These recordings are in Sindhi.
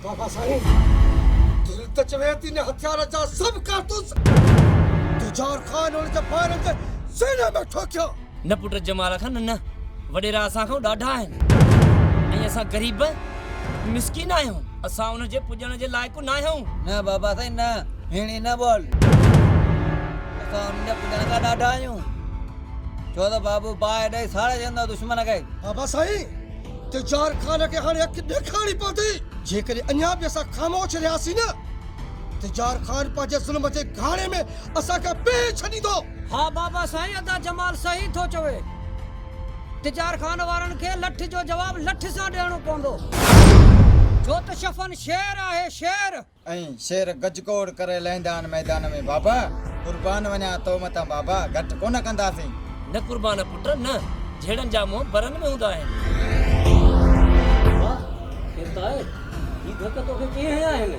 بابا سائين دل ته چوي ٿي نه هٿيار جا سڀ ڪارتوس تجار خان هن جي ڦائرن تي سيني ۾ ٺوڪيا. نه پٽ جمال خان نه وڏيرا اسان کان ڏاڍا آهن ۽ اسان غريب مسڪين آهيون اسان ان جي پڄڻ جي لائق ناهيون. نه بابا سائين نه هيڻي نه ٻول اسان ان جي پڄڻ کان ڏاڍا آهيون ڇو ته بابو باهه ڏئي ساڙي ڇڏيندو دشمن کي. بابا سائين تجار خان کي هاڻي اک ڏيکارڻي پوندي. جيڪڏهن اڃا به اسان خاموش رهياسين نه، تجار خان پنهنجي ظلم جي گهاڻي ۾ اسان کي پيهي ڇڏيندو. ها بابا سائين ادا جمال صحيح ٿو چوي. تجار خان وارن کي لٺ جو جواب لٺ سان ڏيڻو پوندو. جو ته شفن شير آهي شير. ۽ شير گج گوڙ ڪري لهندا آهن ميدان ۾، بابا! قربان وڃان تو متان بابا، گهٽ ڪونه ڪنداسين. نه قربان پٽ نه، جهيڙن جا منهن برن ۾ هوندا آهن. بابا! خيرت آهي؟ هي ڌڪ توکي ڪنهن هنيا آهن؟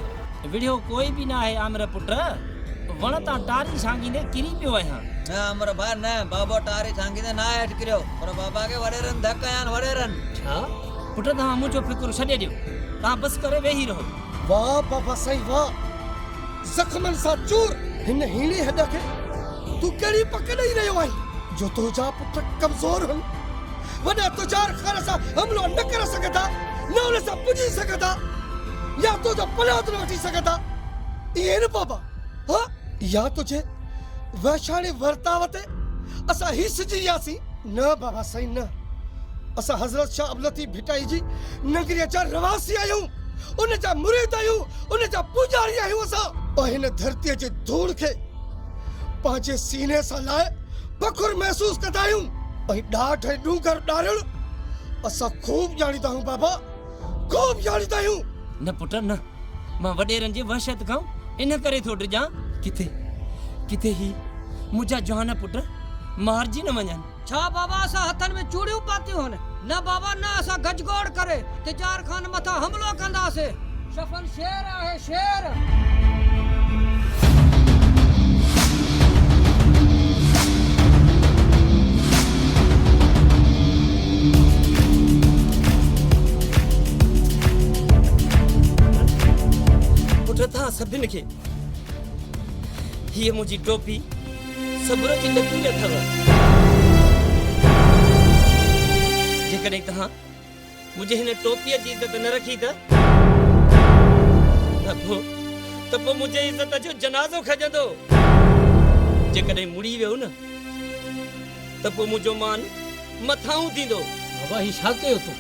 وڙهيو ڪوئي به ناهي عامر پٽ، وڻ تان ٽاري ڇانگيندي ڪري پيو آهيان. نه عامر ڀاء نه، بابو ٽاري ڇانگيندي ناهي هيٺ ڪريو، پر بابا کي وڏيرن ڌڪ هنيا آهن، وڏيرن. ڇا؟ پٽ توهان منهنجو فڪر ڇڏي ڏيو، توهان بس ڪري ويهي رهو. واھ بابا سائين واھ زخمن سان چور. هن هيڻي هڏ کي تون ڪهڙي پڪ ڏئي رهيو آهين. جو تنهنجا پٽ ڪمزور هن وڏا تجار خان سان حملو نه ڪري سگهندا نه ان سان پڄي سگهندا يا تنهنجو پناهت نه وٺي سگهندا ائين نه بابا ها يا تنهنجي وحشاڻي ورتاء تي اسان هي سجي وياسين. نه بابا سائين نه اسان حضرت شاھ عبداللطيف ڀٽائي جي نگريء جا رهواسي آهيون. ان جا مريد آهيون، ان جا پوڄاري آهيون اسان. پوء هن ڌرتيء جي ڌوڙ کي پنهنجي سيني سان لائي فخر محسوس ڪندا آهيون. ۽ ڏاڍ ۽ ڏونگر ڏارڻ اسان خوب ڄاڻيندا آهيون بابا، خوب ڄاڻيندا آهيون. نه پٽ نه، مان وڏيرن جي وحشت کان ان ڪري ٿو ڊڄان. ڪٿي ڪٿي هي منهنجا جوان پٽ مارجي نه وڃن. ڇا بابا اسان هٿن ۾ چوڙيون پاتيون هن؟ نه بابا نه اسان گجگوڙ ڪري تجار خان مٿان حملو ڪنداسين. شفن شير آهي شير. پٽ اتان سڀن کي هيء منهنجي ٽوپي. صبر جي لڪير اٿئو. جيڪڏهن توهان منهنجي هن ٽوپيء جي عزت نه رکي ته ته پوء ته پوء منهنجي عزت جو جنازو کڄندو. جيڪڏهن مڙي ويو نه ته پوء منهنجو مان مٿاهون ٿيندو. بابا هي ڇا ڪيو تون؟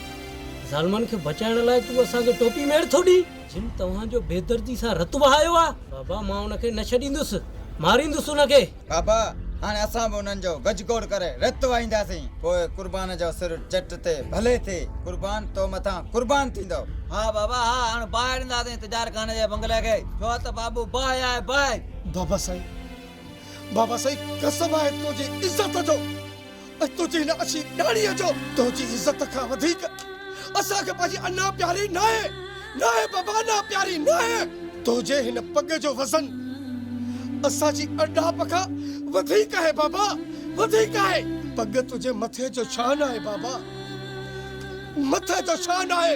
ظالمن کي بچائڻ لاء تون اسان کي ٽوپي ميڙ ٿو ڏئين؟ جن توهان جو بيدردي سان رت وهايو آهي. بابا مان ان کي نه ڇڏيندس، ماريندس ان کي. بابا هاڻي اسان به انهن جو گجگوڙ ڪري رت وهائينداسين، پوء قربان جو سر چٽ تي ڀلي ٿئي، قربان تو مٿان قربان ٿيندو. ها بابا ها، هاڻ باهه ڏينداسين تجار خان جي بنگلي کي، ڇو ته بابو باهه آهي، باهه. بابا سائين، بابا سائين قسم آهي تنهنجي عزت جو، ۽ تنهنجي هن اڇي ڏاڙهيء جو تنهنجي عزت کان وڌيڪ اسان کي پنهنجي انا پياري ناهي، ناهي بابا انا پياري ناهي، تنهنجي هن پڳ جو وزن اسان جي اڙڏاپ کان وڌيڪ آهي بابا، وڌيڪ آهي، پڳ تنهنجي مٿي جو شان آهي بابا، مٿي جو شان آهي.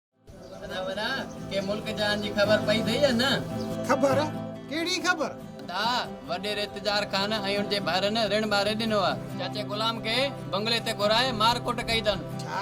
سنا ونا ڪي ملڪ جهان جي خبر پئي ٿئي يا نه. خبر؟ ڪهڙي خبر؟ ادا وڏيري اتجار خان ۽ ان جي ڀائرن رڻ ماري ڏنو آ. چاچي غلام کي بنگلي تي گهرائي مار ڪٽ ڪئي اٿن. ڇا؟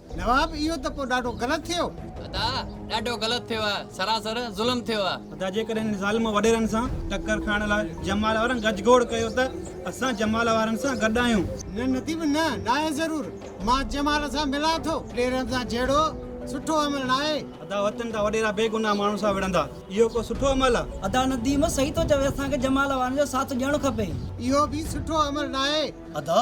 نواب، اهو ته پوء ڏاڍو غلط ٿيو. ادا، ڏاڍو غلط ٿيو آهي، سراسر ظلم ٿيو آهي. ادا، جيڪڏهن هن ظالم وڏيرن سان ٽڪر کائڻ لاء جمال وارن گج گوڙ ڪيو ته اسان جمال وارن سان گڏ آهيون. نه نديم نه، ناهي ضرور، مان جمال سان ملان ٿو. وڏيرن سان جهيڙو سٺو عمل ناهي. ادا، وطن جا وڏيرا بيگناهه ماڻهن سان وڙهندا، اهو ڪو سٺو عمل آهي؟ ادا، نديم صحيح ٿو چوي، اسان کي جمال وارن جو ساٿ ڏيڻ کپي. اهو به سٺو عمل ناهي. ادا،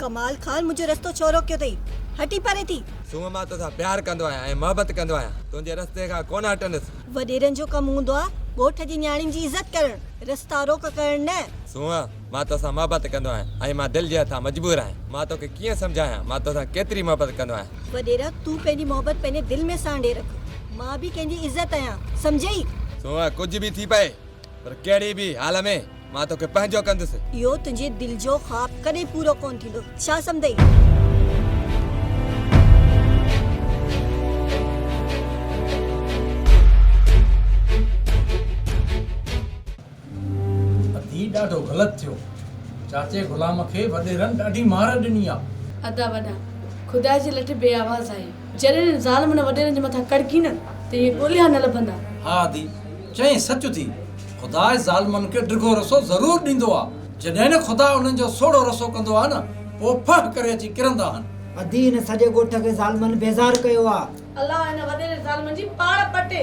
ڪمال خان منهنجو رستو ڇو روڪيو اٿئي هٽي پري ٿي. سومه مان توسان پيار ڪندو آهيان ۽ محبت ڪندو آهيان تنهنجي رستي کان ڪونه هٽندس. وڏيرن جو ڪم هوندو آهي ڳوٺ جي نياڻين جي عزت ڪرڻ رستا روڪ ڪرڻ نه. سومه مان تو سان محبت ڪندو آهيان ۽ مان دل جي هٿان مجبور آهيان. مان تو کي ڪيئن سمجهايان مان تو سان ڪيتري محبت ڪندو آهيان. وڏيرا تون پنهنجي محبت پنهنجي دل ۾ سانڍي رک. مان به ڪنهن جي عزت آهيان سمجهيئي. سونهن ڪجهه به ٿي پئي پر ڪهڙي به حال ۾ مان تو کي پنهنجو ڪندس. اهو تنهنجي دل جو خواب ڪڏهن پورو ڪونه ٿيندو ڇا سمجهيئي. ادا هي ڏاڍو غلط ٿيو. چاچي غلام کي وڏيرن ڏاڍي مار ڏني آ. ادا وڏا خدا جي لٺ بي آواز آهي. جڏهن انهن ظالمن وڏيرن جي مٿان ڪڙڪي نه ته اهي ڳوليا نه لڀندا. ها ادي چئين سچ ٿي خدا ظالمن کي ڊگهو رسو ضرور ڏيندو آ جڏهن نه خدا انهن جو سوڙهو رسو ڪندو آ نه پو ڦهه ڪري اچي ڪرندا آهن. ادي هن سڄي ڳوٺ کي ظالمن بيزار ڪيو آ. الله هن وڏيري ظالمن جي پاڙ پٽي.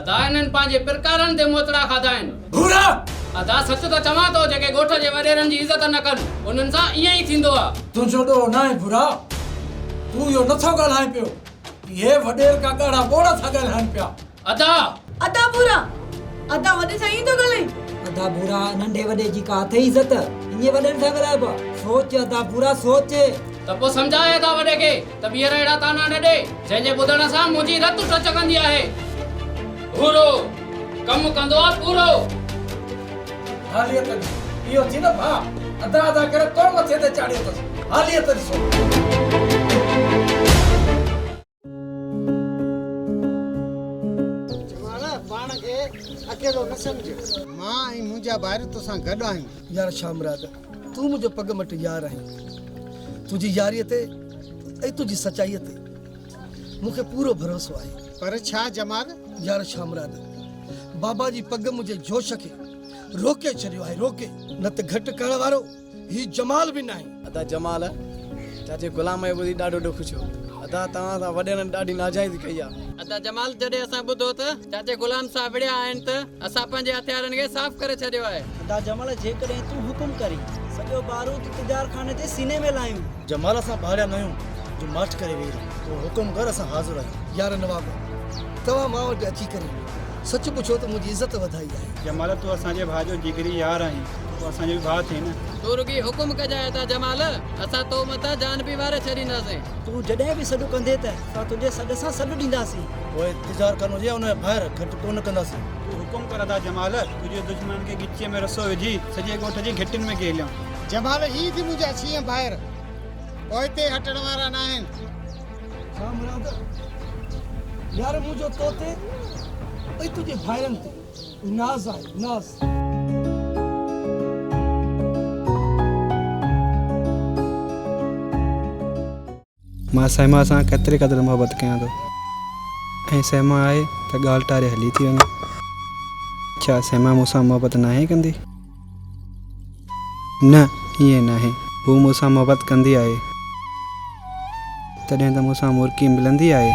ادا انهن پنهنجي پرڪارن تي موتڙا کاڌا آهن. ڀورا! ادا سچ ته چوان ٿو جيڪي ڳوٺ جي وڏيرن جي عزت نه ڪن انهن سان ائين ئي ٿيندو آ. تنهنجو ڏوهه ناهي ڀورا. تون اهو نه ٿو ڳالهائين پيو. اهي وڏير ڪا ڳاڙها ٻوڙ ٿا ڳالهائين پيا. ادا! ادا ڀورا! ادا وڏي سان ائين ٿو ڳالهائين. ادا ڀورا ننڍي وڏي جي ڪا اٿئي عزت. ائين وڏن سان ڳالهائبو آ. سوچ ادا ڀورا سوچ. ته پوء سمجهاء ادا وڏي کي. ته ٻيهر اهڙا طعنا نه ڏي، جنهن جي ٻڌڻ سان منهنجي رت ٽچڪندي آهي. ڀورو ڪم ڪندو آ پورو. حاليتن اهو ٿي نه ڀاء، ادا ادا ڪري تون مٿي تي چاڙهيو اٿس، حاليتن سو. مان ۽ منهنجا ڀائر توسان گڏ آهيون. يار شاهه مراد تون منهنجو پڳ مٽ يار آهين تنهنجي ياريء تي ۽ تنهنجي سچائيء تي مون کي پورو ڀروسو آهي پر ڇا جمال يار ڇا مراد بابا جي پڳ منهنجي جوش کي روڪي ڇڏيو آهي روڪي نه ته گهٽ ڪرڻ وارو هي جمال به ناهي. ادا جمال چاچي غلام اهي ٻڌي ڏاڍو ڏک ڇيو ادا توهان سان وڏيرن ڏاڍي ناجائزي ڪئي آهي. ادا جمال جڏهن اسان ٻڌو ته چاچي غلام صاحب وڙهيا آهن ته. اسان پنهنجي هٿيارن کي صاف ڪري ڇڏيو آهي. ادا جمل جيڪڏهن تون حڪم ڪرين. سڄو بارود تجار خاني جي سيني ۾ لاهيون. جمال اسان ڀاڙيا ناهيون جو مارچ ڪري ويهي رهون. تون حڪم ڪر اسان حاضر آهيون. يار نواب توهان مان وٽ اچي ڪري سچ پڇيو ته منهنجي عزت وڌائي آهي. جمال تون اسان جي ڀاء جو جگري يار آهين پوء اسان جو به ڀاء ٿي نه. تون رڳي حڪم ڪجانء ادا جمال اسان تو مٿان جان به واري ڇڏينداسين. تون جڏهن به سڏ ڪندين ته. اسان تنهنجي سڏ سان سڏ ڏينداسين. پوء تجار کان هجي يا ان جا ڀائر، گهٽ ڪو نه ڪنداسين. تون حڪم ڪر ادا جمال، تنهنجي دشمنن کي ڳچيء ۾ رسو وجهي، سڄي ڳوٺ جي گهٽين ۾ ڪيليون. جمال، هي به منهنجا ڇيهه ڀائر، پوئتي هٽڻ وارا ناهن. ڇا مراد يار منهنجو تو تي ۽ تنهنجي ڀائرن تي ناز آهي، ناز. مان سئما سان ڪيتري قدر محبت ڪيان ٿو ۽ سئما آهي ته ڳالهه ٽاري هلي ٿي وڃي. ڇا سئما مون سان محبت ناهي ڪندي؟ نه ائين ناهي. هوء مون سان محبت ڪندي آهي. تڏهن ته مون سان مرڪي ملندي آهي.